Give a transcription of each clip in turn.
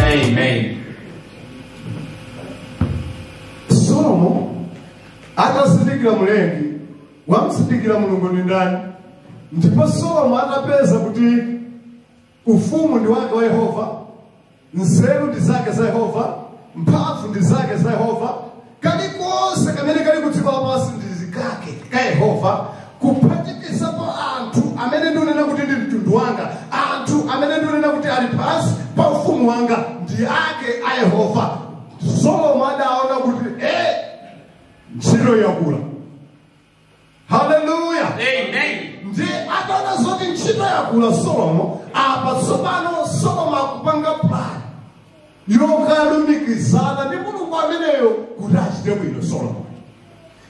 Amen. solomo atazindikira mlengi atamzindikira mulungu ndi ndani ndipo solomo atapeza kuti ufumu ndi wake wa yehova nzeru ndi zake za yehova mphamvu ndi zake za yehova kalikonse kamene kali kudziko lapansi ndi kake ka yehova kuphatikizapo anthu amene ndikunena kuti ndi mtundu wanga anthu amene ndikunena kuti ali pansi pa ufumu wanga ndi ake a yehova solomo adaona kuti e ntchito yakula haleluya Amen. nde ataona zoti ntchito yakula solomo apa tsopano solomo akupanga plan yokalumikizana ndi mulungu ameneyo kuti achite bwino solomo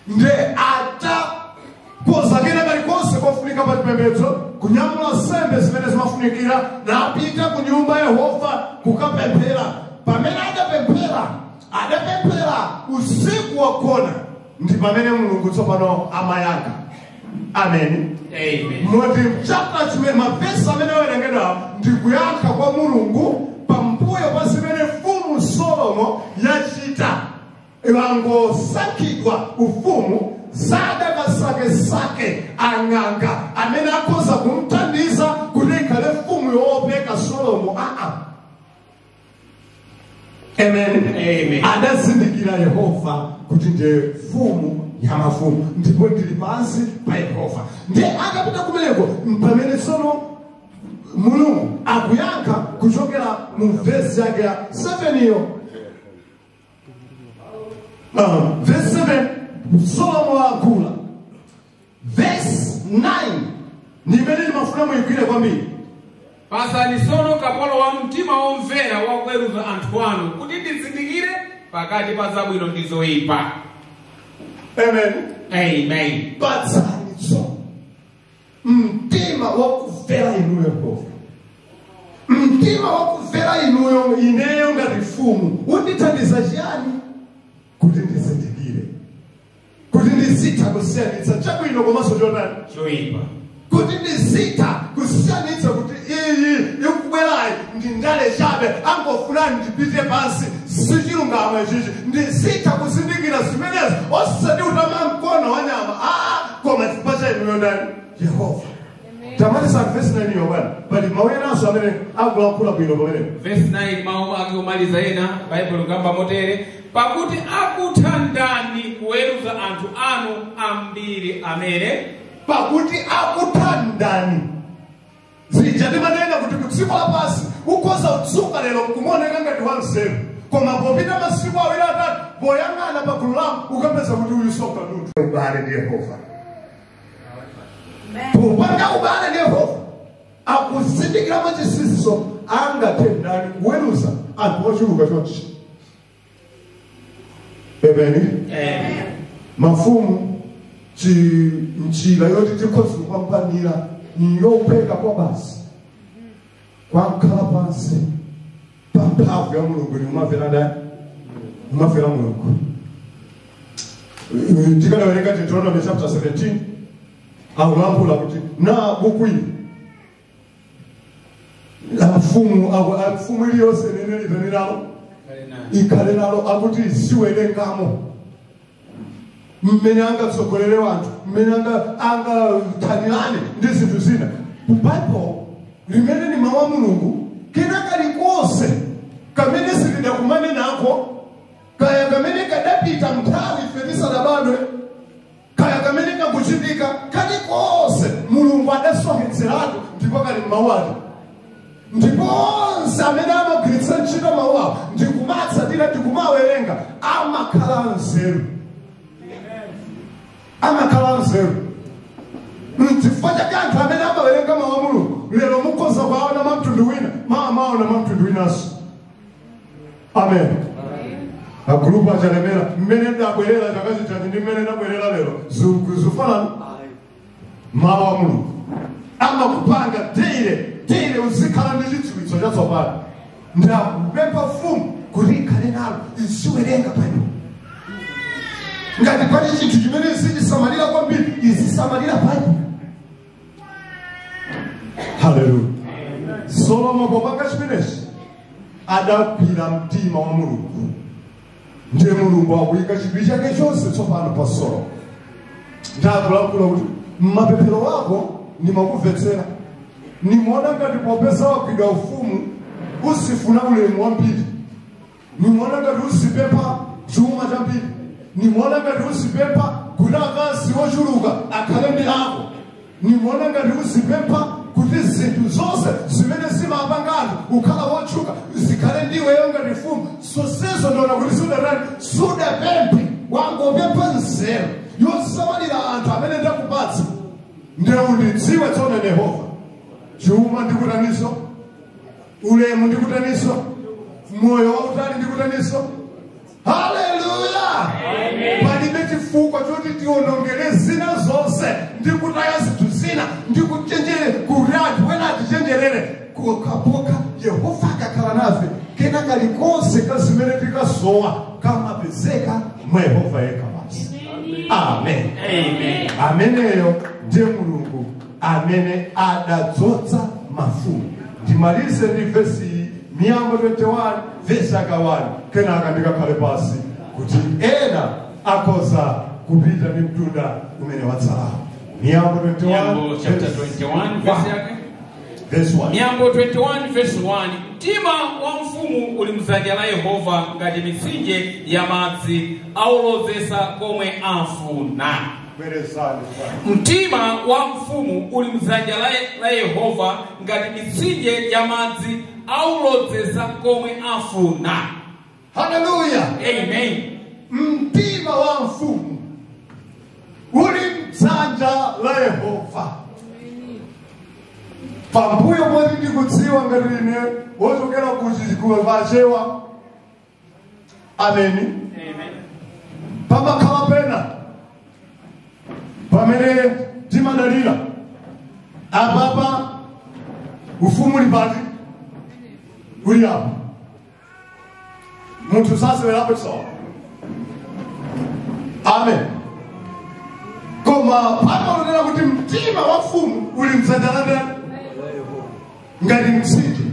nde atakonza kena kalikonse kofunika pa chipembedzo kunyamula nsembe zimene zimafunikira napita ku nyumba ya yehova kukapemphera pamene adapemphera adapemphera usiku wagona ndi pamene mulungu tsopano amayankha ameni Amen. moti chapter chimene mavesi amene awerengedwawo ndi kuyankha kwa mulungu pambuyo pa zimene mfumu solomo yachita wangosankhidwa ufumu sadakasakesake ang'anga amene akhoza kumthandiza kuti ikhale mfumu yoopeka solomo aa Amen. Amen. adazindikira yehova kuti ndiye mfumu ya mafumu ndipo ndili pansi pa yehova ndiye akapita kumeneko mpamene tsono mulungu akuyankha kuchokera mu vesi yake ya 7 iyo Uh, verse 7 solomo akuyankhula verse 9 ni imene ndimafuna muyigwire kwambiri patsani tsono kapolo wanu mtima womvera wakuweruza anthu anu kuti ndizindikire pakati pa zabwino ndi zoyipa amen amen patsani tso mtima wakumvera inuyo yehova mtima wakumvera inuyo ineyo ngati mfumu undithandize chiyani kuti ndizindikire kuti ndizitha kusiyanitsa chabwino komanso chotani choipa kuti ndizitha kusiyanitsa kuti iyi ikubwerayi ndi ndale chabe angofuna ndipite pansi sichilungamo ichichi ndizitha kuzindikira zimenezi osati kutama mkono wa nyama aa koma chifukwa cha inuyo ndani yehova tamalizani vesi nainiyo bwana pali mawu enanso amene akulankhula bwino pamenepo vesi 9 mawu ake omaliza ena baibulo kamba motere pakuti akutha ndani kuweruza anthu anu ambiri amene pakuti akutha ndani zija ndimanena kuti ku dziko lapansi ukhoza kudzuka lero kumaoneka ngati wanzeru koma popita masiku awiri atatu poyang'ana pa gulu lako ukapeza kuti uyu soka munthu ubale ndi yehova popanda ubale ndi yehova akuzindikira machisisiso angathe ndani kuweruza anthu ochuluka chonchi Amen. Amen. Mafumu njira yoti tikhoza kupambanira niyophweka kwabasi kukhala pansi pa mphamvu ya mulungu nikumamvera ndani kumamvera mulungu tikanawerenga deuteronomy chapter 17 akulankhula kuti na buku ili afumu mfumu iliyonse imene itani nalo ikhale nalo akuti iziwerengamo mmene angatsogolere wanthu mmene angathanirane ndi zinthu zina baibulo limene ni mawu a mulungu kena kalikonse kamene sitidakumane nako kaya kamene kadapita mnthawi ife tisadabadwe kaya kamene kakuchitika kalikonse mulungu adasonkhetseratu ndipo kali m'mawu ake ndipo onse amene amagwiritsa ntchito mawu awo ndikumatsatira ndikumawerenga amakhala anzeru amakhala anzeru mchifukwa chake anthu amene amawerenga mawu a mulungu lero mukhoza kuwaona mwa mtundu wina mawa maona mwa mtundu winanso amen agulupu a chalemera mmene ndabwerera chaka chathachi ndi mmene ndabwerera lero zu- zufanana mawu a mulungu amakupanga tere tere uzikhala ndi chidziwitso chatsopano ndakupempha mfumu kuti ikhale nalo iziwerenga baibulo ngati pali chinthu chimene izichisamalira kwambiri izisamalira baibulo haleluya solomo popanga chimenechi adagwira mtima wa mulungu ndiye mulungu akuyika chidwi chake chonse tsopano pa solomo ndakulankhula kuti mmapemphero wako ndimakumvetsera nimaona ngati popeza wagwira ufumu uzifuna ulemu wambiri nimaona ngati uzipempha chuma chambiri nimaona ngati uzipempha kuti akazi ochuluka akhale ndi ako nimaona ngati uzipempha kuti zinthu zonse zimene zimapanga anthu kukhala wotchuka zikhale ndiweyo ngati mfumu zonsezo ndiona kuti sudatani sudapemphe wangopempha nzeru yosamalira anthu amene ndakupatsa ndiye undidziwe tsono yehova chuma ndikutaniso ulemu ndi kutaniso moyo wautali ndi kutaniso haleluya palibe chifukwa choti tionongere zina zonse ndi kutaya zinthu zina ndi kuchenjera kuti anthu wena atichenjerere kukapanda yehova akakhala nafe kena kalikonse ka zimene tikusowa kamapezeka mwa yehova yekha basi amen ameneyo ndiye mulungu amene adadzodza mafumu ndimalize ndi vesi iyi miyambo 21 vesi yake 1 kenaka ndikakhale pasi kuti ena akhoza kupita ndi mtunda umene watsalawo miyambo 21 Miyambo chapter 21 verse yake. vesi 1 Miyambo 21 verse 1. Mtima wa mfumu uli mdzanja la Yehova ngati mitsinje ya madzi aulozetsa komwe afuna. Bwerezani kwa Mtima wa mfumu uli m'dzanja la, la Yehova ngati mitsinje ya madzi aulozetsa komwe afuna. Haleluya. Amen. Mtima wa mfumu uli m'dzanja la Yehova. Pambuyo poti ndikudziwa ngati ine wochokera ku chigulu pachewa ameni pamakhala pena pamene timadalira apapa ufumu uli pati? uli apa munthu sasewerapo chisawa amen koma pamanena kuti mtima wa mfumu uli mdzanja la ndani ngati mtsinje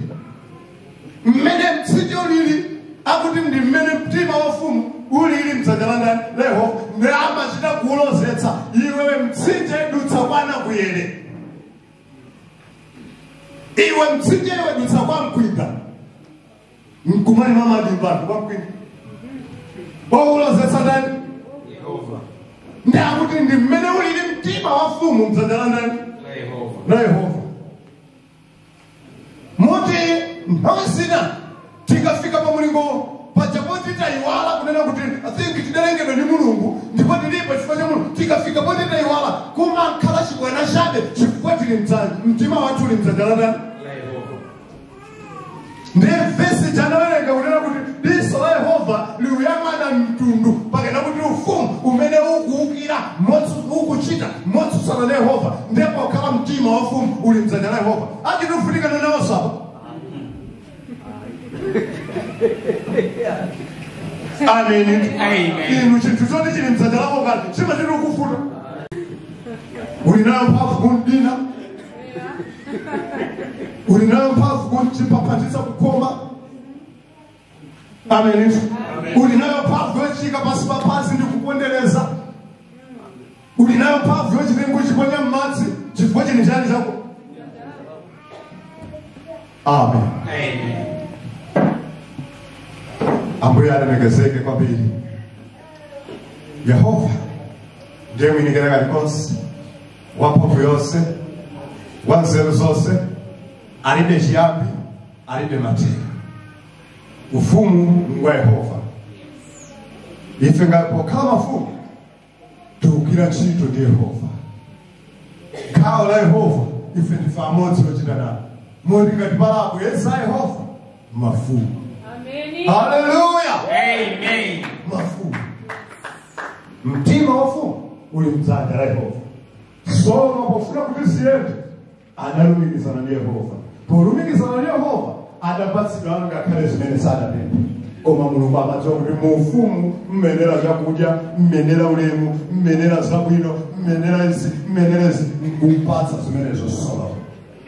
mmene mtsinje ulili akuti ndi mmene mtima wa mfumu ulili mdzanja la ndani la yehova ndiye amachita kuulozetsa iwe mtsinje dutsa kwa nakuyere iwe mtsinje iwe dutsa kwa mkwinda mkumani mwa madimba anthu kwa mkwinda waulozetsa ndani Yehova. ndiye akuti ndi mmene ulili mtima wa mfumu mdzanja la ndani la yehova moti nthawi zina tikafika pa mulingo paja poti tayiwala kunena kuti i think tidalengedwa ndi mulungu ndipo tilipo chifukwa cha mulungu tikafika poti tayiwala kumakhala chibwana chabe chifukwa tili mdzanja mtima wathu uli mdzanja la ndani ndiye vesi tinawerenga kunena kuti diso la yehova likuyang'ana mtundu pakunena kuti ufumu umene ukuukira motsu- ukuchita motsutsana na yehova ndiye pokhala mtima wa mfumu uli mdzanja la yehova achitifunika nenawonso apa ameni Amen. inu chinthu choti chili mdzanja lako kale chimachita kuvuta uli nayo mphamvu kumdina uli nayo mphamvu kuchipapatiza kukoma amen uli nayo mphamvu yochiika pansi papansi ndi kupondereza uli nayo mphamvu yochitenga kuchiponya mmadzi chifukwa chinthucho ndi chako amen ambuye alemekezeke kwambiri yehova ndiye mwini kalikonse wamphamvu yonse wa nzeru zonse alibe chiyambi alibe mathero ufumu ngwa yehova ife ngakhale pokhala mafumu tikugwira ntchito ndi yehova gawo la yehova ife ndife amodzi ochita nawo moti ngati pali opo yesa yehova mafumu Amen. haleluya Amen. mafumu mtima wa ufumu uli mdzanja la yehova solomo pofuna kuti ziyende adalumikizana ndi yehova polumikizana ndi yehova adapatsidwa ngakhale zimene sadapempha koma mulungu amadziwa kuti mu ufumu muyenera zakudya muyenera ulemu muyenera zabwino muyenera izi muyenera izi nkumpatsa zimenezo solomo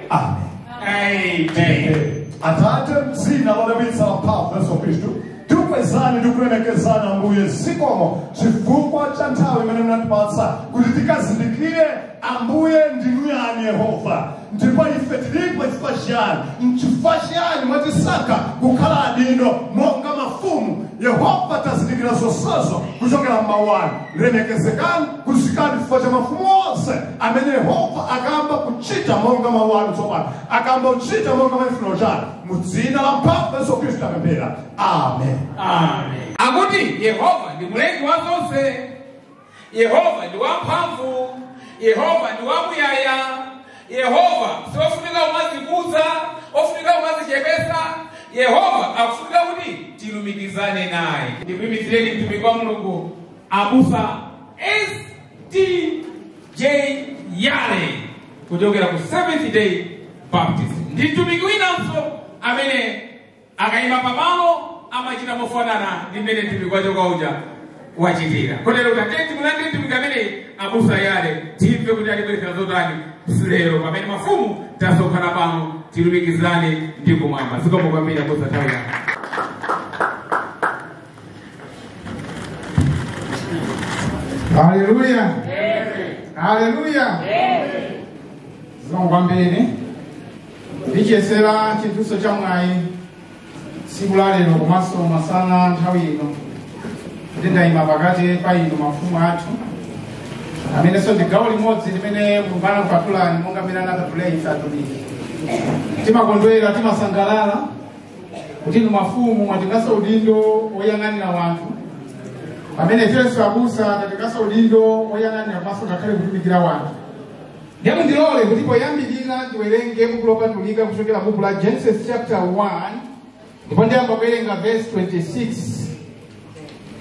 amen Amen. atate mdzina lodabwitsa la mphamvu yesu khristu tikukwezani ndi kulemekezani ambuye zikomo chifukwa cha nthawi imene munatipatsa kuti tikazindikire ambuye ndinu yani yehova ndipo ife tilipo chifukwa chiyani nchifukwa chiyani mwatisankha kukhala adindo monga mafumu yehova tazindikira zonsezo kuchokera m'mawu anu lemekezekani kuzikani chifukwa cha mafumu onse amene yehova akayamba kuchita monga mawu anu tsopano akayamba kuchita monga mwa chifuniro chanu mu dzina la mphamvu yesu khristu tapemphera amen Amen. akuti yehova ndi mlengi wa zonse yehova ndi wamphamvu yehova ndi wamuyaya yehova siofunika umazikuza ofunika umazichepesa yehova akufunika kuti tilumikizane naye ndikuimikireni mtumiki wa mulungu abusa stj yale kuchokera ku seventh day baptist ndi mtumiki winanso amene akayima pamalo amachita mofanana ndi mmene mtumiki wachoka uja wachitira kotero tiyeni timulandire mtumiki ameneyi abusa yale timve kuti atibweretsera zotani lero pamene mafumu tasonkhana pano tilumikizane ndi kumwamba zikomo kwambiri abusa tawira haleluya haleluya zikomo kwambiri ndichiyesera chinthunso cha mwayi tsiku la lero komanso masana nthawi ino kuti ndayima pakati pa inu mafumu athu amenenso ndi gawo limodzi limene mulungu anakupatulani monga mmene anapatulira ife atumiki timakondwera timasangalala kuti inu mafumu mwatenganso udindo woyang'anira wanthu pamene ifenso abusa tatenganso udindo woyang'anira komanso ngakhale kutumikira wanthu ndiye mundilole kuti poyambirira ndiwerenge buku lopatulika kuchokera buku la genesis chapter 1 ndipo ndiyamba kuwerenga verse 26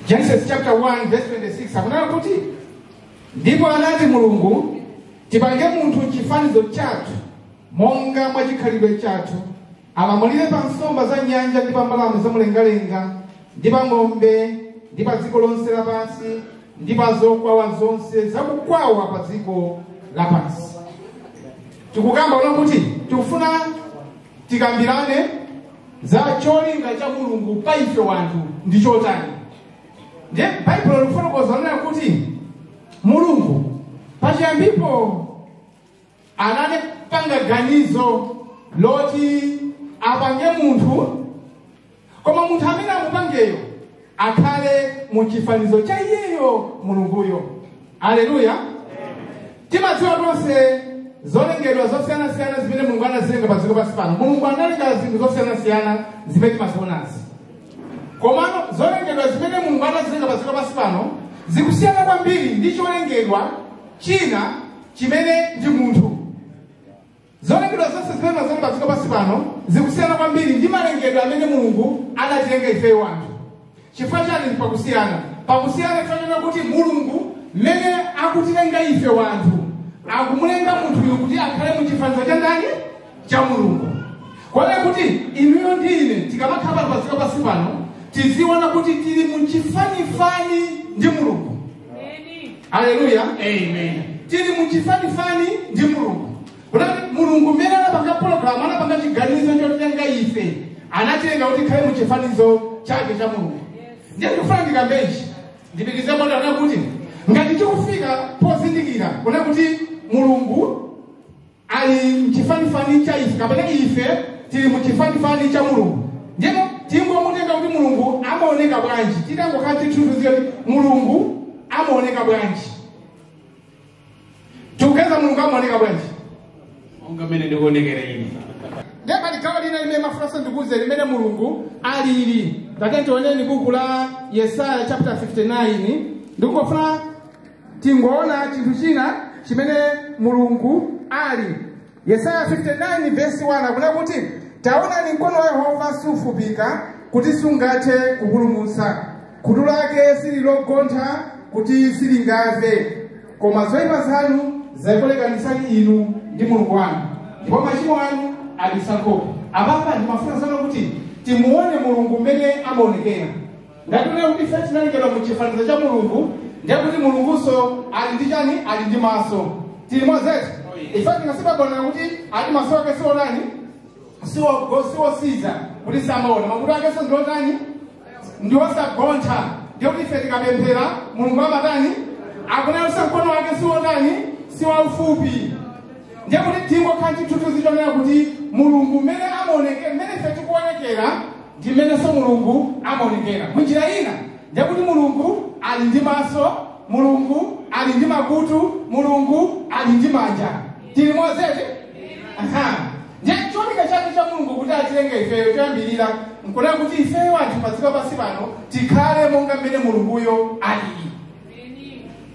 genesis chapter 1 verse 26 akunena kuti ndipo anati mulungu tipange munthu m'chifanizo chathu monga mwa chikhalidwe chathu Alamulire pa nsomba za m'nyanja ndi pa mbalame za mlengalenga ndi pa ng'ombe ndi pa dziko lonse lapansi ndi pa zokwawa zonse zakukwawa pa dziko lapansi. Tikukamba kunena kuti tikufuna tikambirane za cholinga cha Mulungu pa ife wanthu ndi chotani. Ndiye Baibulo likufotokoza kunena kuti Mulungu pachiyambipo anapanga ganizo loti apange munthu koma munthu amene amupangeyo akhale mu chifanizo cha iyeyo mulunguyo aleluya timadziwa tonse zolengedwa zosiyanasiyana zimene mulungu anazilenga pa dziko pansi pano mulungu analenga zinthu zosiyanasiyana zimene timazionazi komano zolengedwa zimene mulungu anazilenga pa dziko pansi pano zikusiyana kwambiri ndi cholengedwa china chimene ndi munthu zolengedwa zonse zimene mazomba padziko pansi pano zikusiyana kwambiri ndi malengedwe amene mulungu anatilenga ifeyo wanthu chifukwa chani pakusiyana pakusiyana chifukwa chonena kuti mulungu mmene akutilenga ife wanthu akumulenga munthuyu kuti akhale mu chifanizo cha ndani cha mulungu kotero kuti inuyo ndi ine tikamakhala pano padziko pansi pano tiziona kuti tili muchifanifani ndi mulungu aleluya amen tili muchifanifani ndi mulungu kunena kuti mulungu mmene anapanga pologalamu anapanga chiganizo cholenga ife anatilenga kuti tikhale muchifanizo chake cha mulungu ndiye ndikufuna ndikambe ichi ndipitirize monena kuti ngati tikufika pozindikira kunena kuti mulungu ali mchifanifani cha ife kapena ife tili mchifanifani cha mulungu ndipo tingomutenga kuti mulungu amaoneka bwanji titangokhala chithunzi choti mulungu amaoneka bwanji tikupeza mulungu amaoneka bwanji monga mmene ndikuonekera ine ndiye pali gawo lina limene ndimafunanso ndikuuze limene mulungu alili tati tioneni buku la yesaya chapter 59 ndikungofuna tingoona chinthu china chimene mulungu ali yesaya 59 vesi 1 akunena kuti taonani mkono wa yehova sufupika kuti sungathe kupulumutsa khutu lake sili logontha kuti silingamve koma zoyipa zanu zakulekanitsani inu ndi mulungu wanu ndipo machimo anu abisa nkhope apapa ndimafunanso kuti timuone mulungu mmene amaonekera ngati tinena kuti ife tinalengedwa mu chifanizo cha mulungu ndiye kuti mulungunso ali ndi chani ali ndi maso tili modzi eti ife tingasibabonera kuti ati maso ake siwotani siwo- siwotsinza kuti samaona makutu akenso ndiotani ndiwosagontha ndiye kuti ife tikapemphera mulungu amatani akutinso mkono wake siwotani siwaufupi ndiye kuti tingokhala chithunzi chonena kuti mulungu mmene amaonekera mmene ife tikuonekera ndi mmenenso mulungu amaonekera munjira ina ndiye kuti mulungu ali ndi maso mulungu ali ndi makutu mulungu ali ndi manja tili modzi eti aha ndiye cholinga chake cha mulungu kuti atilenge ifeyo choyambirira nkunena kuti ifeyo anthu padziko pansi pano tikhale monga mmene mulunguyo alili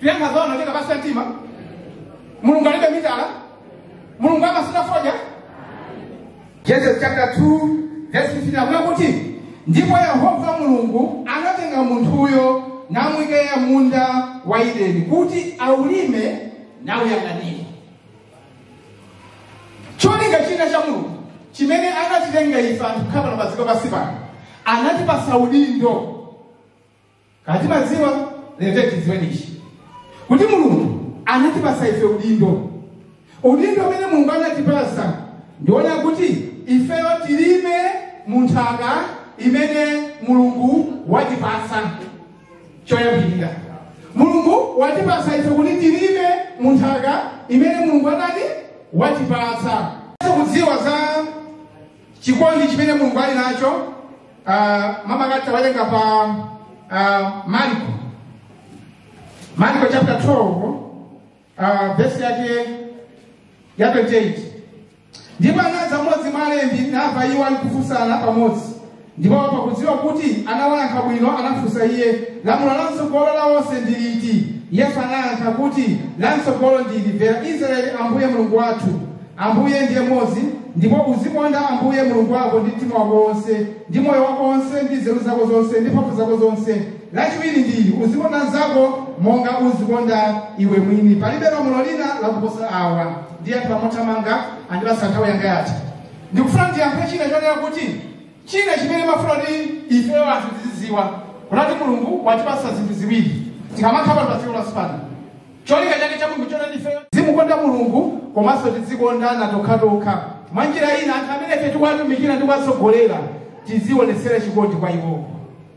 tuyankha zaona kupsa mtima mulungu alibe mitala mulungu samasuta fodya genesis chapter 2 verse 15 akunena kuti ndipo yehova mulungu anatenga munthuyo namuika m'munda wa ideni kuti aulime nauyang'anire cholinga china cha mulungu chimene anatilenga ife anthu kukhala pano padziko pansi pano anatipasa udindo kaya timadziwa lero tidziwe ichi kuti mulungu anatipasa ife udindo udindo umene mulungu anatipasa ndi wonena kuti ifeyo tilime mu nthaka imene mulungu watipasa choyambirira mulungu watipasa ife kuti tilime mu nthaka imene mulungu anati watipasa kudziwa za chikondi chimene mulungu ali nacho ah, makamaka tawerenga pa ah, marko marko chapter 12 ah, vesi yake ya 28 ndipo anadza mmodzi mwa alembi namva iwo ali kufunsana pamodzi ndipo pakudziwa kuti anawayankha bwino anafunsa iye lamulo la m'tsogolo la onse ndi liti yesu anayankha kuti la m'tsogolo ndi ili mvera israeli ambuye mulungu wathu Ambuye ndiye mmodzi, ndipo uzikonda Ambuye Mulungu wako ndi mtima wako wonse, ndi moyo wako wonse, ndi nzeru zako zonse, ndi mphamvu zako zonse. Lachiwiri ndi ili, uzikonda mnzako monga uzikonda iwe mwini. Palibe lamulo lina lakuposa awa. Ndiye mothamanga andipatsa nthawi yanga yatha. Ndikufuna ndiyankhe china chonena kuti china chimene amafuna kuti ifeyo anthu tizidziwa kuti Mulungu watipatsa zinthu ziwiri tikamakhala pano pa dziko lapansi pano Cholinga chake cha Mulungu n'chonena kuti ifeyo tizimukonda Mulungu komanso tidzikondana tokhatokha. Mwa njira ina anthu amene ife tikuwatumikira ndi kuwatsogolera tizionetsere chikondi kwa iwowo.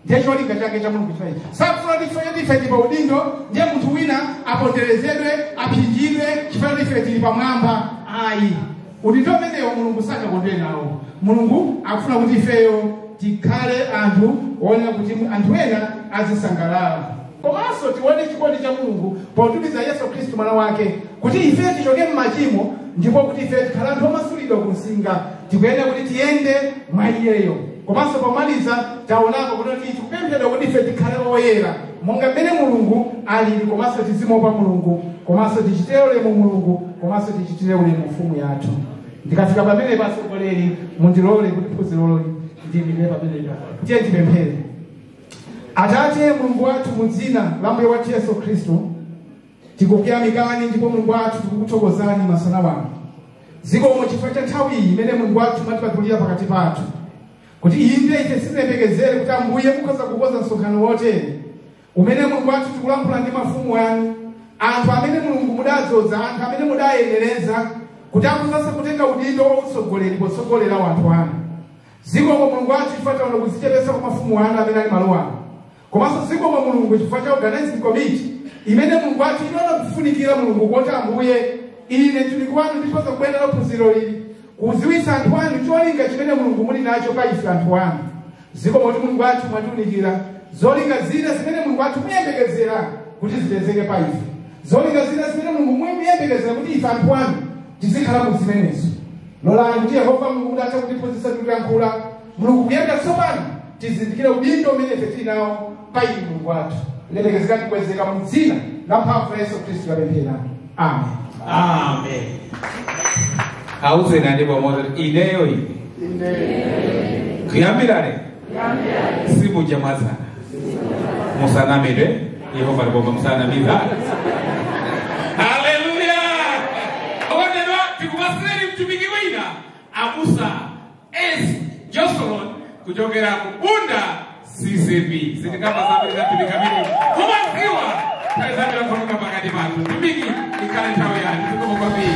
Ndiye cholinga chake cha Mulungu chimenechi. Sakufuna kuti ife kuti ife tili pa udindo ndiye munthu wina aponderezedwe, aphinjidwe chifukwa kuti ife tili pamwamba. Ayi. Udindo umenewo Mulungu sangakondwere nawo. Mulungu akufuna kuti ifeyo tikhale anthu oonera kuti anthu ena azisangalala. Komanso tione chikondi cha Mulungu potumiza Yesu Khristu mwana wake kuti ifeyo tichoke m'machimo ndipo kuti ifeyo tikhale anthu omasulidwa ku nsinga. Tikuyenera kuti tiyende mwa iyeyo. Komanso pomaliza taonapo kuti tikupemphedwa kuti ife tikhale oyera. monga mmene mulungu alili komanso tizimuopa mulungu komanso tichitire ulemu mulungu komanso tichitire ulemu mfumu yathu ndikafika pamenepa atsogoleri mundilole kuti phunziroli ndiyimire pamenepa tiyeni tipemphere atate mulungu wathu mu dzina la mbuye wathu yesu khristu tikukuyamikani ndipo mulungu wathu tikukuthokozani masana ano zikomo chifukwa cha nthawi iyi imene mulungu wathu mwatipatulira pakati pathu kuti inde ife sitinayembekezere kuti ambuye mukhoza kukonza msonkhano wotere umene mulungu wathu tikulankhula ndi mafumu anu anthu amene mulungu mudadzodza anthu amene mudayenereza kuti akhoza kutenga udindo wautsogoleri potsogolera anthu anu zikomo mulungu wathu chifukwa taona kudzichepetsa kwa mafumu anu amene ali malo ano komanso zikomo mulungu chifukwa cha organizing committee imene mulungu wathu inaona kufunikira mulungu kuti ambuye ine mtumiki wanu ndikhoza kubwera ndi phunziro ili kudziwitsa anthu anu cholinga chimene mulungu muli nacho pa ife anthu anu zikomo kuti mulungu wathu mwatiunikira zolinga zina zimene mulungu wathu muyembekezera kuti zipezeke pa ife zolinga zina zimene mulungu muyembekezera kuti ife anthu anu tizikhala mu zimenezo lolani kuti yehova mulungu kuti athe kutiphunzitsa tikuyankhula mulungu kuyenda tsopano tizindikire udindo umene ife tili nawo pa inu mulungu wathu lemekezekani kukwezeka mu dzina la mphamvu la yesu khristu tapemphera amen Amen. Auzeni andi pamodzi kuti ineyo ine. Kuyambira lero simuja mwazana. Musanamire Yehova ali pompa musanamize. Haleluya. Okondedwa tikupatsireni mtumiki wina abusa Enzi Josolon kuchokera ku Bunda CCAP sitikamba zambiri zambiri kamene mumadziwa nthawi zambiri akhononga pakati pathu mtumiki ikhale nthawi yanu zikomo kwambiri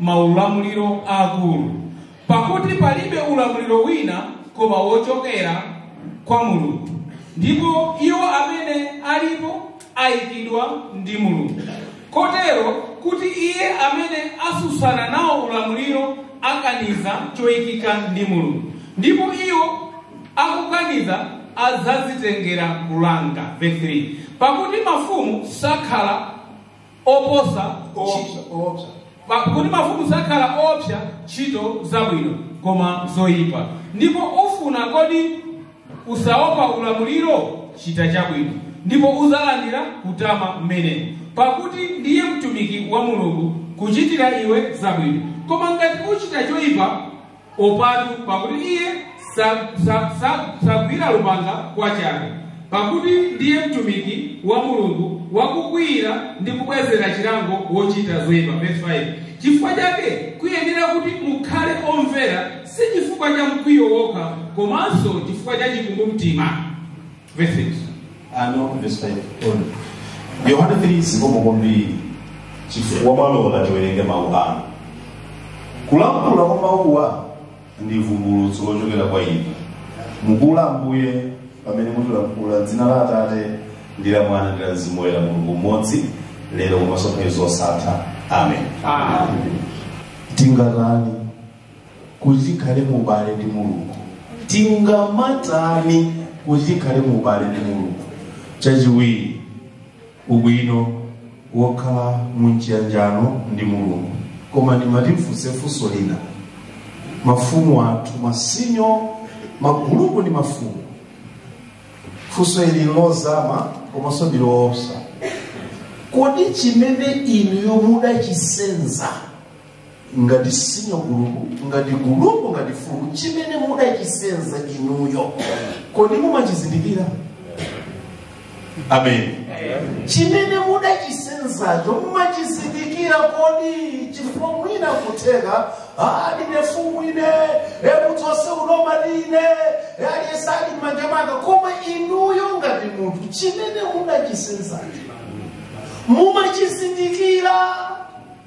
maulamuliro aakulu, pakuti palibe ulamuliro wina koma wochokera kwa Mulungu, ndipo iwo amene alipo ayikidwa ndi Mulungu. Kotero kuti iye amene atsutsana nawo ulamuliro akaniza choyikika ndi Mulungu, ndipo iwo akukaniza adzazitengera kulanga. Verse 3 pakuti mafumu sakhala oopsa ntchito- Oopsa, oopsa. Pakuti mafumu sakhala oopsa ntchito zabwino koma zoyipa ndipo ufuna kodi usaopa ulamuliro chita chabwino ndipo uzalandira kutama mmenemo pakuti ndiye mtumiki wa mulungu kuchitira iwe zabwino koma ngati uchita choyipa opatu pakuti iye sa- sa- sa- sagwira lupanga kwa chabe pakuti ndiye mtumiki wa mulungu wakukwiyira ndi kubwezera chilango wochita zoyipa verse 5 chifukwa chake kuyenera kuti mukhale omvera si chifukwa cha mkwiyo wokha komanso chifukwa cha chikumbumtima verse 6. ano verse 5 on. yohane 3 zikomo kwambiri chifukwa mwalola tiwerenge mawu anu kulankhula kwa mawuwa ndi vumbulutso lochokera kwa inu mukula ambuye pamene mutilankhula dzina la atate ndi la mwana ndi la mzimu woyera mulungu mmodzi lero komanso nthawi zosatha amen tingatani kuti tikhale mu ubale ndi mulungu tingamatani kuti tikhale mu ubale ndi mulungu chachiwiri ubwino wokhala mu chiyanjano ndi mulungu koma ndimati ndifunse funso lina mafumu athu masinyo magulupu ndi mafumu funso ili ndi lozama komanso ndi loopsa kodi chimene inuyo mudachisenza ngati senior gulupu ngati gulupu ngati fumu chimene mudachisenza inuyo kodi mumachizindikira amen chimene mudachisenzacho mumachizindikira kodi chifukwa mwina kutheka ndine fumu ine mudzi onse unoma line aliyense ali m'manja mwanga koma inuyo ngati munthu chimene mudachisenzacho mumachizindikira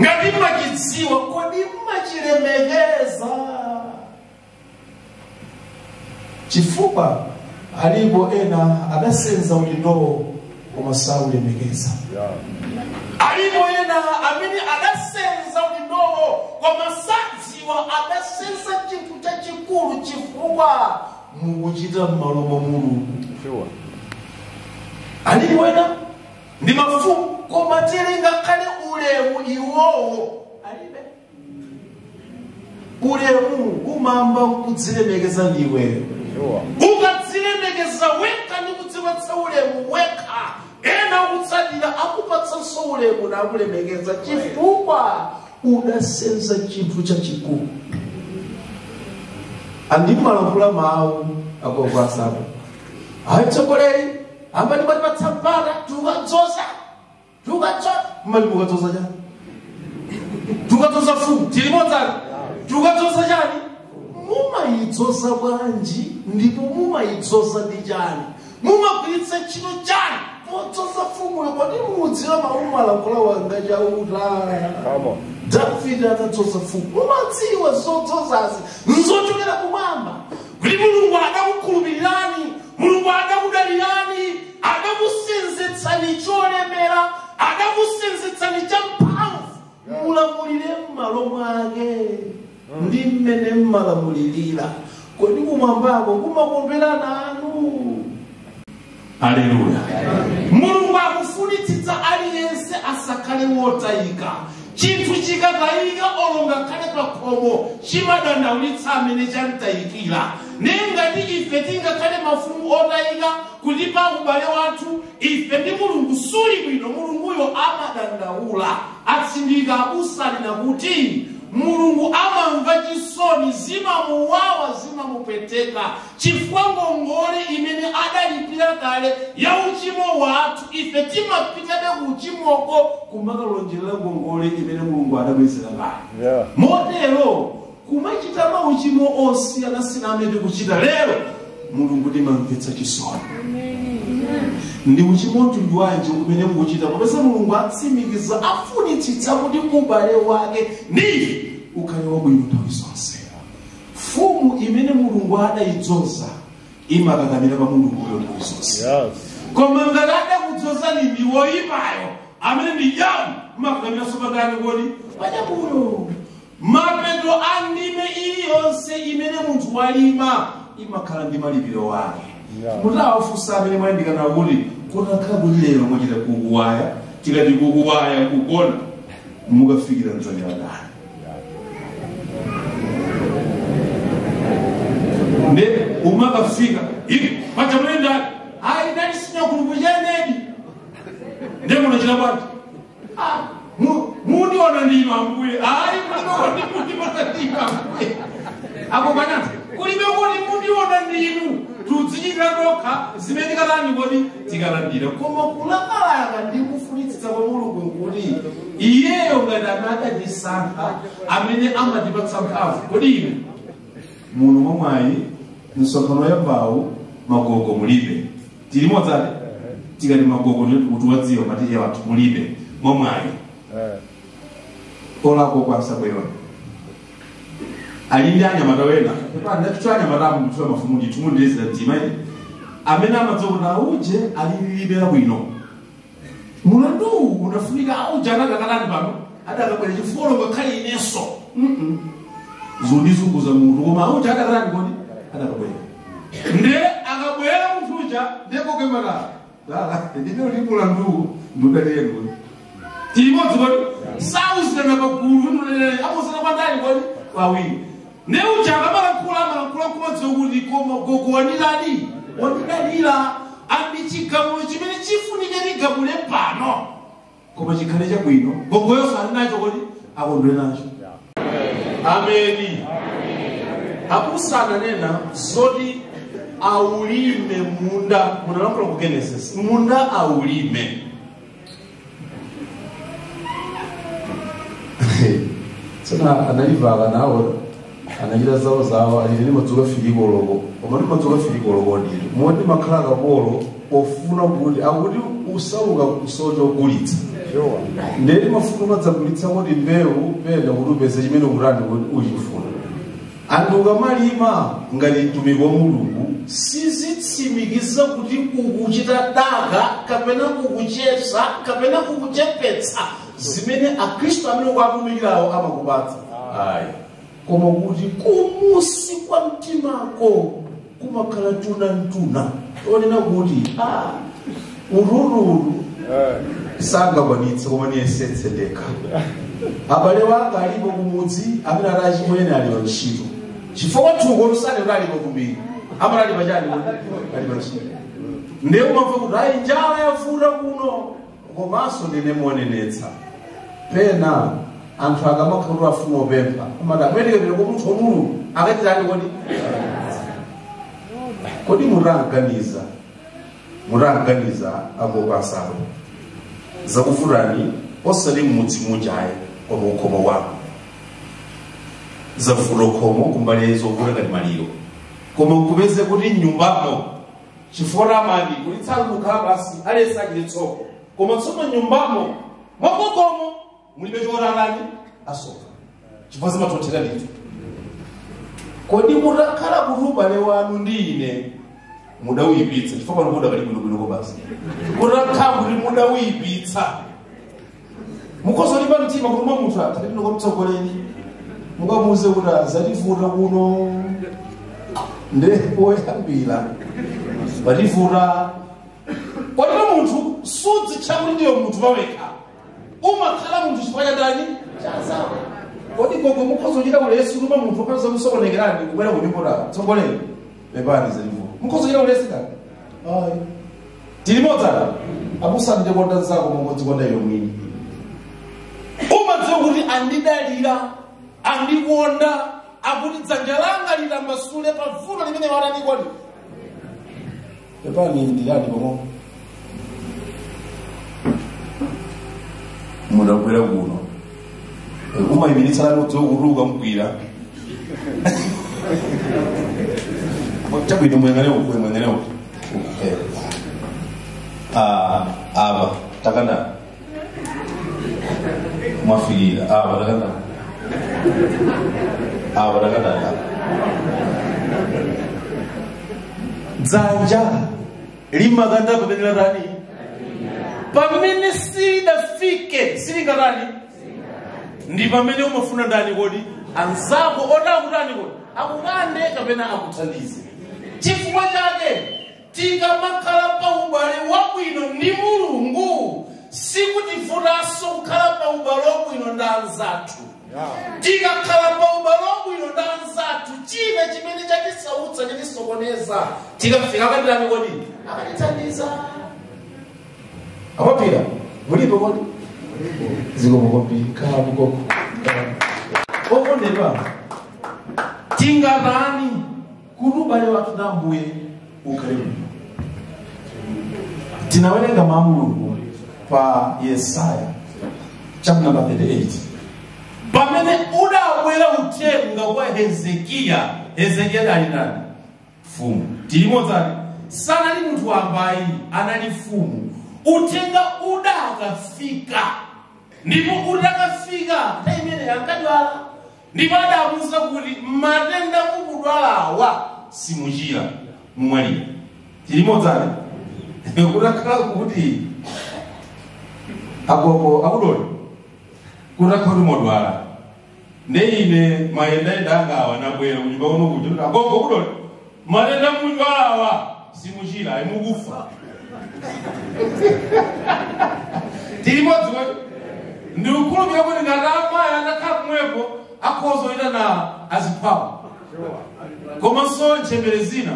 ngati mmachidziwa kodi mmachilemekeza chifukwa alipo ena adasenza udindowo koma saulemekeza alipo ena amene adasenza udindowo koma sadziwa adasenza chinthu chachikulu chifukwa mukuchita m'malo mwa mulungu alipo ena ndi mafumu koma tili ngakhale ulemu iwowo alibe ulemu umamba kudzilemekeza ndiwe ukadzilemekeza wekha ndi kudzipatsa ulemu wekha ena kutsatira akupatsanso ulemu nakulemekeza chifukwa udasenza chinthu chachikulu andimalankhula mawu akovasapo atsogoleri amene matipatsa mpata tikukadzoza tikukadzoza mmati mukadzoza chani tikukadzoza fumu tilimodzani tikukadzoza chani mumayidzoza bwanji ndipo mumayidzoza ndi chani mumagwiritsa ntchito chani podzoza fumuyo kodi mudziwa mawu alankhula wanga chauta davide atadzoza fumu mumadziwa zodzozazi nzochokera kumwamba kuti mulungu adakukhulupirirani mulungu adakudalirani adakusenzetsani cholemera adakusenzetsani champhamvu mulamulire m'malo mwake ndi mmene mmalamulirira kodi kumwambako kumakondwera nanu aleluya mulungu akufunitsitsa aliyense asakhale wotayika Chinthu chikatayika olo ngakhale pa khomo chimadandaulitsa amene chamtayikira. Ndiye ngati ife tingakhale mafumu otayika kuti pa ubale wathu ife ndi Mulungu suli bwino, Mulunguyo amadandaula. Atsindika abusa anena kuti Mulungu amamva chisoni, zimamuwawa, zimamupweteka Chifukwa ngongole imene adalipira kale ya uchimo wathu, ife timapitabe kuuchimoko kumakalonjerera ngongole imene Mulungu adabwezera kale. Yeah. Motero, kumachita mauchimo osiyanasiyana amene tikuchita lero, Mulungu timamvetsa chisoni. Ndi uchimo mtundu wanji umene mukuchita popeza Mulungu atsimikiza afunitsitsa kuti ubale wake ndi ife ukhale wabwino nthawi zonse. mfumu imene mulungu adayidzoza imakakamira pa mulunguyo nthawi zonse Yes. koma ngati adakudzozani ndi woyipayo amene ndi jamu mmakakamiranso pa ndani kodi pa jamuyo mapeto a ndime iliyonse imene munthu walima imakhala ndi malipiro ake Yeah. mutawafunsa amene mwayandikana kuti kutakhala kuti lero mwachita kukuwaya tikati kukuwaya kugona mukafikira mdzanja la ndani nde umakafika ivi pacha munaenda ayi ndandisinya kulukuzhenedi nde munachita bwanji mundiona ndinu ambuye ayi mundiona ndinu ambuye apo pana kulibe kuti mundiona ndinu tudzichitira tokha zimene tikalandira kodi tikalandira koma kulakalaka ndi kufunitsitsa kwa mulungu kuti iyeyo ngati anadatisankha amene amatipatsa mphamvu kodi ine muno mwamwayi nsokhano ya mbawu magogo mulipo tili limodzi tikati magogo ndikutiwadziwa matiye wathu mulibe mwamwayi olako kwasabwewa ali ndi anyamata ena ndaticho anyamata amutula mafumu ndithu mundilezera mtima ine amene amadziwa kuti auje alililibera bwino mulandu uwu unafunika auja anakakhala pano adakabwera chifukwa ngakhale inenso Mm-mm. zondizunguza mutu koma auja adakalani kodi adakabwera nde akabwera munthu uja nde kukumana ndimene ndi mulandu ndudaliyeni kodi tili limodzi kodi sauzirana pagulu ndudaliyeni amauzana kwa ndani kodi kwa awiri nde uja akamalankhula amalankhula kumadziwa kuti koma gogo wandidali wandidalira pa chigamulo chimene chifunike tigamule pano koma chikhale chabwino gogoyonso ali nacho kodi akondwere nacho ameni abusa ananena zoti aulime munda munalankhula ku genesis munda aulime tsona analivala nawo anachita zawo zawo achiteni madzuka fikiloko koma ndi madzuka fikiloko ndithu moti mmakhala akapolo ofuna kuti akuti usauka kusocha ogulitsa nde timafuna madzagulitsa kuti mbewu pena kuti upeze chimene ukutani kuti uchifuna anthu ukamalima ngati mtumiki wa mulungu sizitsimikiza kuti ukuchita daka kapena ukuchepsa kapena ukuchepetsa zimene akhristu amene ukuatumikirawo amakupatsa ayi koma kuti kumusi kwa mtimako kumakhala tuna mtuna onena kuti ah, urururu sangakwanitse koma niyesetse ndekha abale wanga alipo kumudzi amene amati achimwene ali pantchito chifukwa thuko lusane kuti alipo kumbiri amene ali pachani ali pantchito ndiye umamva kuti ayi njala yavuta kuno Komanso ndinene monenetsa. Pena anthu akamakhala kuti afuna opempha amati amwenekedwera kwa munthu wa mulungu akachitani kodi kodi mutanganiza mutanganiza akopasalo zakuvutani osati mmudzi muja ayi koma mukhomo wako zakuvuta khomo kumbali zovuta ngati maliro koma kupeza kuti nyumbamo chifukwa amati kuti tsangokhala basi aliyense achite tsoko koma tsono nyumbamo mwakomo mulibe choratani asoka chifukwa zimatotero ndithu kodi mutakhala kuti ubale wanu ndi ine mudawuyipitsa chifukwa pano mudakali bwinobwinoko basi mutakhala kuti mudawuyipitsa mukhoza kulimba mtima kutuma munthu atha ndipita kwamtsogoleri mukamuuze kuti zativuta kuno nde poyambira pativuta kodi munthu sudzitcha kuti ndiwe munthu pawekha umakhala munthu chifukwa cha ndani cha anzawo kodi gogo mukhoza kuchita ulesi kutuma munthu okha zakusokonekerani kubwera kunyumba kwa mtsogoleri pepani zativuta mukhozochita ulesi ayi tili limodzi abusa nde konda nzako mongodzikonda iwe mwini umadziwa kuti andidalira andikonda akuti dzanja langa litambasule pa vuto limene watani kodi pepani ndilali pang'ono mudabwera kuno umayimitsa lati udzokutuka mgwira chabwino muyang'ane uku muyang'ane uku Eh. Ah, apa takanda mwafikira apa takanda apa takanda dzanja limakanda pamene latani pamene silidafike silingatani ndi pamene umafuna ndani kodi anzako otakutani kodi akukande kapena akuthandize chifukwa chake Tikamakhala pa ubale wabwino ndi Mulungu, sikutivutanso kukhala pa ubale wabwino ndi anzathu. Tikakhala pa ubale wabwino ndi anzathu, china chimene chatisautsa chatisokoneza, tikafika akatirani kodi akatithandiza. A Mapira, mulipo kodi? Zikomo kwambiri, khalani koko. Okondedwa, tingatani kuti ubale wathu ndi ambuye ukhale bwino tinawerenga mawu a mulungu pa yesaya chapter number 38 pamene udabwera uthenga kwa hezekiya hezekiya adali ndani mfumu tili limodzi eti sanali munthu wambayi anali mfumu uthenga udakafika ndipo udakafika nthawi imeneyo ankadwala ndipo adamuuza kuti matenda mukudwalawa simuchira mumwalira tili limodzi kutakhala kuti agogo akudooli kutakhala kuti modwala ndi ine mayendayenda angawa nabwera kunyumba kuno kuja kuti agogo akudoli Matenda mukudwala awa simuchira ayi mukufa. Tili limodzi kodi? Ndikukhulupirira kuti ngati amayi atakhala pomwepo akhoza kuchita na aziphawo. Komanso ntchembere zina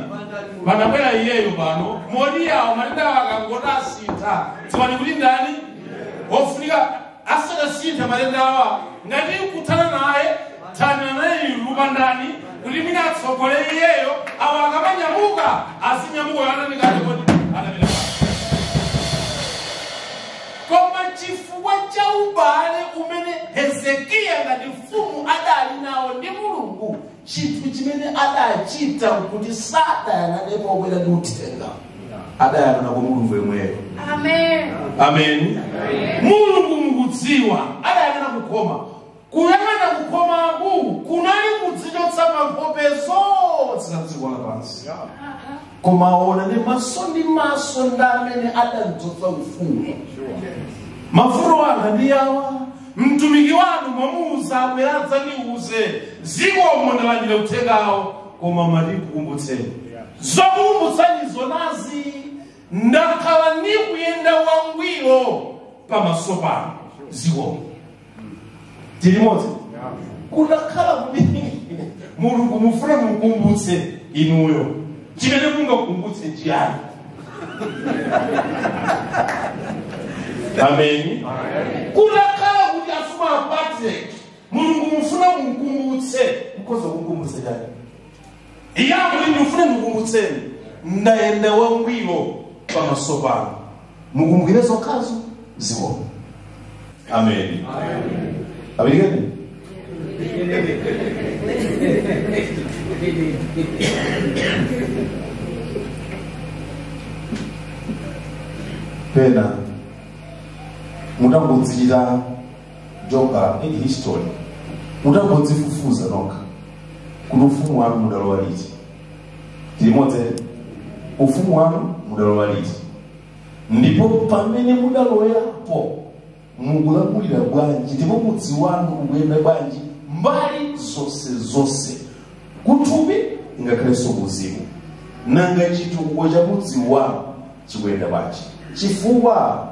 panabwera iyeyo pano moti awo matenda awo akangoti asintha dziwani kuti ndani ofunika asanasinthe matendawa ngati nkuthana naye thana naye tikumvana kuti mwina atsogole iyeyo awo akamanyamuka azinyamuka yoyandikati kodi anapita pati koma chifukwa cha ubale umene hezekiya ngati mfumu adali nawo ndi mulungu chinthu chimene adachita nkuti sadayang'ane wobwera ndi uthenga adayang'ana kwa mulungu yemweyo Amen. amen mulungu mukudziwa adayang'ana kukhoma kuyang'ana kukhomaku kunali kudzichotsa mu nkhope zonse za dziko lapansi koma aona ndi maso ndi maso ndi amene adamudzoza ufumu mafuno anga ndi awa mtumiki wanu mwamuuza abwera adzandiuze zikomo ndalandira uthengawo koma mwati ndikukumbutseni zokukumbutsani ndi zonazi ndakhala ndikuyenda mwangwiro pamaso panu zikomo tili limodzi kutakhala kuti mulungu mufuna mukumbutse inuyo chimene mungamukumbutse chiyani amen kunakhala kuti afuma a patrick mulungu mufuna mukumbutse nkoza kukumbutse chani iye akuti ndifune ndikukumbutseni ndayenda wangwiro pamaso panu mukumbukire zokhazo zikomo Amén. Amén. pena mutangodzira checka history mutangodzifufuza nokha kuti ufumu wanu mudalowa liti tili limodzi ufumu wanu mudalowa liti ndipo pamene mudalowerapo mukulamulira bwanji ndipo mudzi wanu ukuyenda bwanji mbali zonse zonse kuthupi ngakhalenso kuuzimu nanga chitukuko cha mudzi wanu chikuyenda bwanji chifukwa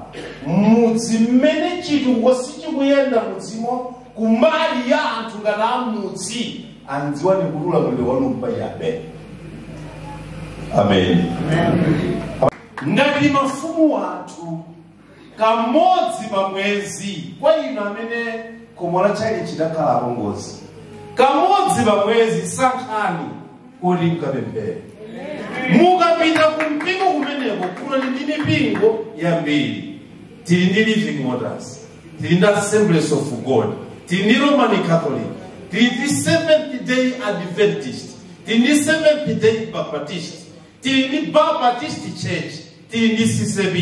mudzi mmene chitukuko sichikuyenda mudzimo kumbali ya anthu ngati amudzi adziwani kuti ulamuliro wanu mpachabe amen ngati mafumu athu kamodzi pa mwezi kwa inu amene khomo la tchalitchi lidakhala apongozi kamodzi pa mwezi sankhani kuti mukapemphere mukapita ku mpingo kumeneko kuno tili ndi mipingo yambiri tili ndi living waters tili ndi assemblies of god tili ndi roman catholic tili ndi seventh day adventist tili ndi seventh day baptist tili ndi baptist church tili ndi ccap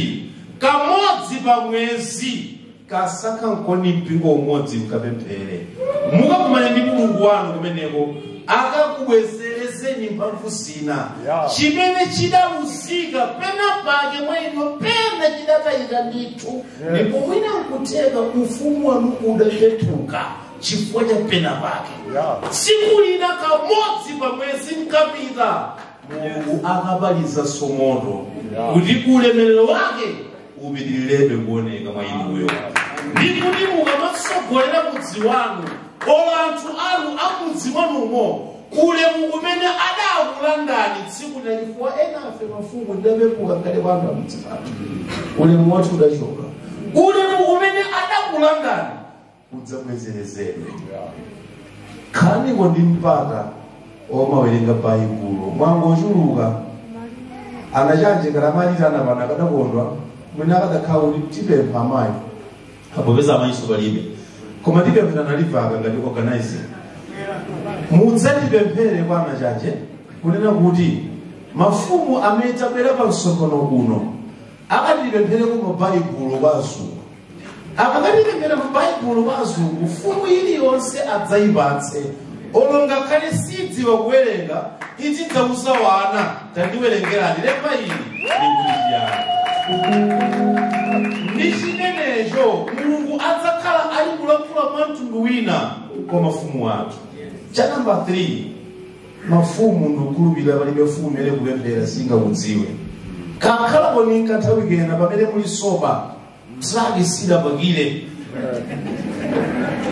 kamodzi pa mwezi kasankheniko mpingo umodzi mkapemphere mukakumane ndi mulungu wanu kumeneko akakubwezerezeni mphamvu zina chimene chidaluzika pena pake mwa inu pena chidatayika ndithu ndipo mwina nkutheka ufumu wanu udapepuka chifukwa cha pena pake tsiku lina kamodzi pa mwezi mkapita mulungu akapalasanso moto kuti ulemerero wake upitirirebe kuoneka mwa inuyo ndi kuti mukamatsogolera mudzi wanu olo anthu anu amudzi mwanumo ulemu umene adakulandani tsiku lina chifukwa enafe mafumu tidapepuka ndi anthu amudzi pano ulemu wathu udachoka ulemu umene adakulandani kudzabwezerezeredwa khalaninso ndi mpata womawerenga baibulo mwangochuluka anachanje kalamalita ana pano ndikadakondwa mwina kukadakhala kuti tipempha amayi popeza amayinso palibe koma tipemphera nalivaka ngati organizer mudzatipemphere kwa anachanje kunena kuti mafumu amene adzabwera pa msonkhano uno akatipemphereko mabaibulo kwa azungu akakatipemphera mabaibulo kwa azungu mfumu iliyonse adzayipatse olo ngakhale sidziwa kuwerenga izidzauza wana tandiwerengerani lemba ili likuti chiyani ndi chimenecho mulungu adzakhala ali kulankhula mwa mtundu wina kwa mafumu athu cha namba 3 mafumu ndikukhulupirira palibe mfumu imene kupemphera singakudziwe kakhalaponi kanthawi kena pamene muli soba zake sidapakire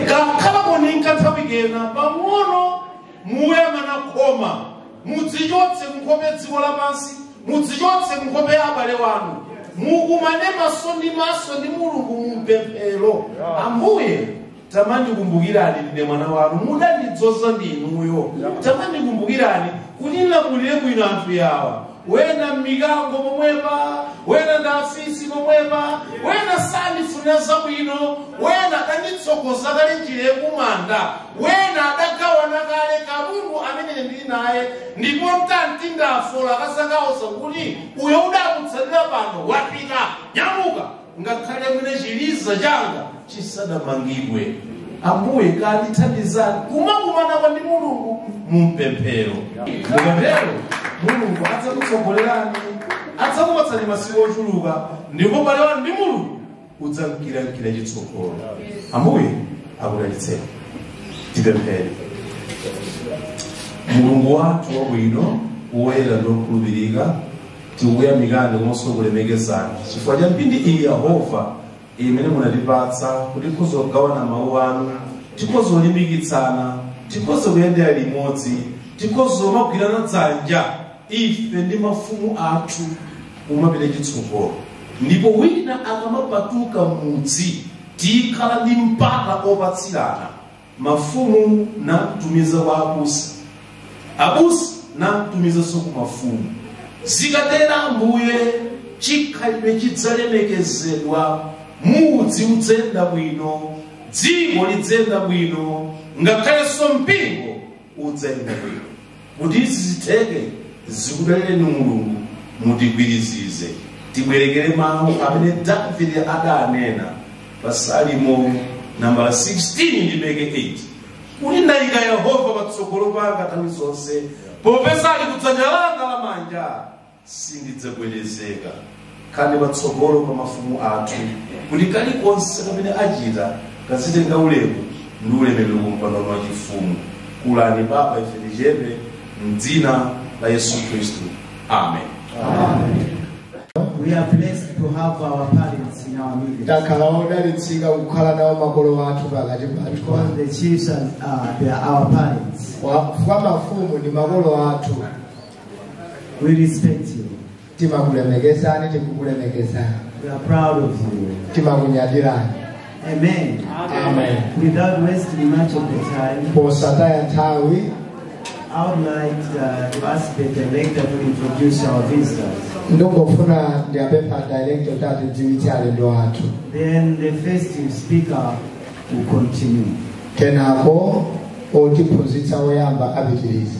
kakhalaponi kanthawi kena pang'ono muyang'ana khoma mudzichotse kunkhope ya dziko lapansi mudzichotse kunkhope ya abale wanu mukumane maso ndi maso ndi mulungu mumpemphero ambuye tamandikumbukirani ndine mwana wanu mudandidzoza ndi inuyo tamandikumbukirani kuti ndilamulire bwino anthu yawa wena ndi mikango momwepa wena ndi afisi momwepa wena sandifunira zabwino wena adanditsogoza kale njira yakumanda wena adagawana kale katundu amene ndili naye ndipo ndikati ndafa akasaka kuwuza kuti uyo udakutsatira pano wapita nyamuka ngakhale mwina chiliza changa chisadamangidwe ambuye tandithandizani kumakumanako ndi mulungu mumpemphero mukatero mulungu adzakutsogolerani adzakupatsani masiku ochuluka ndipo ubale wanu ndi mulungu udzamkirankira chitsogolo ambuye akudalitseni tipemphere mulungu wathu wabwino woyera ndi wokhulupirika tikukuyamikani komanso kukulemekezani chifukwa cha mphindi iyi yehova imene munatipatsa kuti tikhoza kugawana mawu anu tikhoza kulimbikitsana tikhoza kuyendera limodzi tikhoza kumagwirana dzanja ife ndi mafumu athu kumapita chitsogolo ndipo wina akamapatuka mudzi tikhala ndi mpata opatsirana mafumu namtumiza kwa abusa abusa namtumizanso ku mafumu zikatera ambuye chikhalidwe chidzalemekezedwa mudzi udzenda bwino dziko lidzenda bwino ngakhalenso mpingo udzenda bwino kuti izi zitheke zikudalireni mulungu mutigwirizize tibwerekere mawu amene davide adanena pa salimo nambala 16 ndime ke 8 kuti ndayika yehova patsogolo panga nthawi zonse popeza ali kudzanja langa lamanja sindidzagwedezeka khalani patsogolo pa mafumu athu kuti kalikonse kamene achita kazitenga ulemu ndi ulemerero ku mpando wa chifumu kulani papa ife tichepe mdzina la yesu khristu amen We are blessed to have our parents in our midst. takhala odalitsika kukhala nawo makolo athu pakati pathu Because the chiefs are, uh, they are our parents. Wa- kwa mafumu ndi makolo athu We respect you. timakulemekezani tikukulemekezani We are proud of you. timakunyadirani Amen. amen Without wasting much of the time, posataya nthawi I would like uh, to ask the director to introduce our visitors. ndingofuna ndiwapemphe director kuti atidziwitse alendo athu Then the first speaker will continue. kenako otiphunzitsa woyamba apitiriza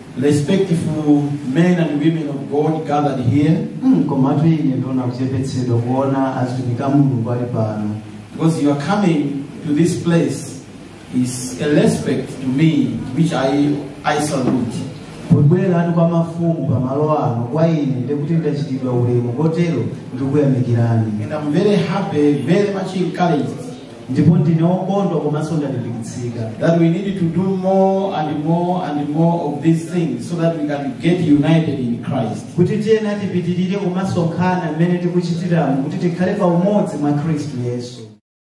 respectful men and women of God gathered here Mm, komatu ine ndaona kuchepetsedwa kuona azitumiki a mulungu ali pano because you are coming to this place is a respect to me which I, I salute. kubweranu kwa mafumu pa malo ano kwa ine ndikuti ndachitidwa ulemu kotero ndikuyamikirani And I'm very happy, very much encouraged ndipo ndine wokondwa komanso ndalimbikitsika that we need to do more and more and more of these things so that we can get united in Christ. kuti tiyenera tipitirire kumasonkhana mmene tikuchitiramu kuti tikhale pa umodzi mwa khristu yesu